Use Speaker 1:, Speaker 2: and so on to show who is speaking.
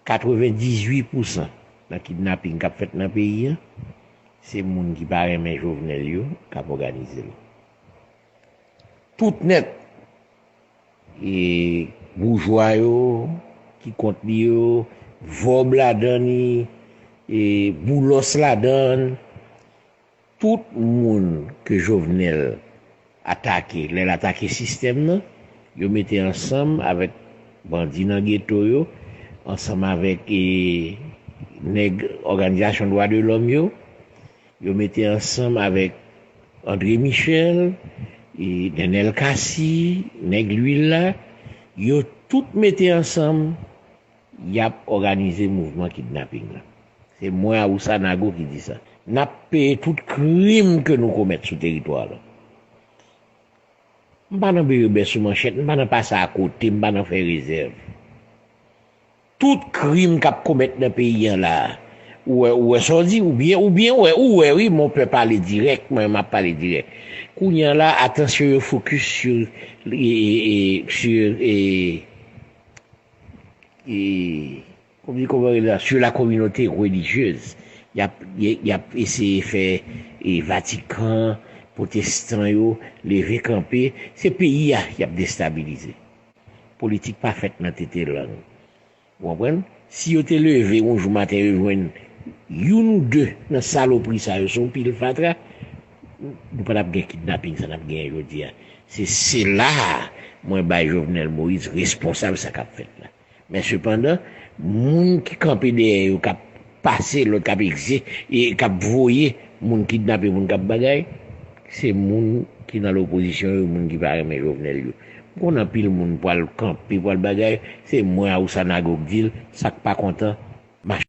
Speaker 1: 98 pousan nan kidnaping kap fèt nan peyi an se moun ki pa renmen Jovenel yo kap òganize l. Tout nèt e boujwa yo ki kont li yo, vòb ladan li e boulos ladan l. Tout moun ke Jovenel atake lè l atake sistèm nan, yo mete ansanm avèk bandi nan geto yo, ansanm avèk nèg òganizasyon dwa de lòm yo, yo mete ansanm avèk Andre Michel, Nenel Cassy, nèg lwil la, yo tout mete ansanm. Yap òganize mouvman kidnaping lan. Se mwen Awousa Nago ki di sa. Nap peye tout krim ke nou komèt sou teritwa lan. M pa nan berebè sou manchèt, m pa nan pase a kote, m pa nan fè rezèv. Tout krim kap komèt nan peyi an la, ou wè ou wè sa w di, ou byen ou byen wè, ou wè wi mon pè pale dirèk, mwen map pale dirèk. Kounye an la atansyon yo fokis sur sur Komite Konvwa rele la, sur la communauté religieuse. Y ap, y ap eseye fè Vatikan, pwotestan yo leve kanpe. Se peyi a y ap destabilize. Politik pa fèt nan tete lang. Ou konprann? Si yo te leve yon jou maten yo jwenn youn ou de nan salopri sa yo se yon pil fatra. Nou pa tap gen kidnaping sa nap genyen jodi a. Se sela a mwen bay Jovenel Moïse responsab sa kap fèt la. Men sepandan, moun ki kanpe dèyè yo kap pase lòd, kap egze, e kap voye moun kidnape, moun kap bagay, se moun ki nan lopozisyon yo, moun ki pa renmen Jovenel yo. M konnen anpil moun pwal kanpe, pwal bagay, se mwen Awousa Nago k di l, sak pa kontan, mache.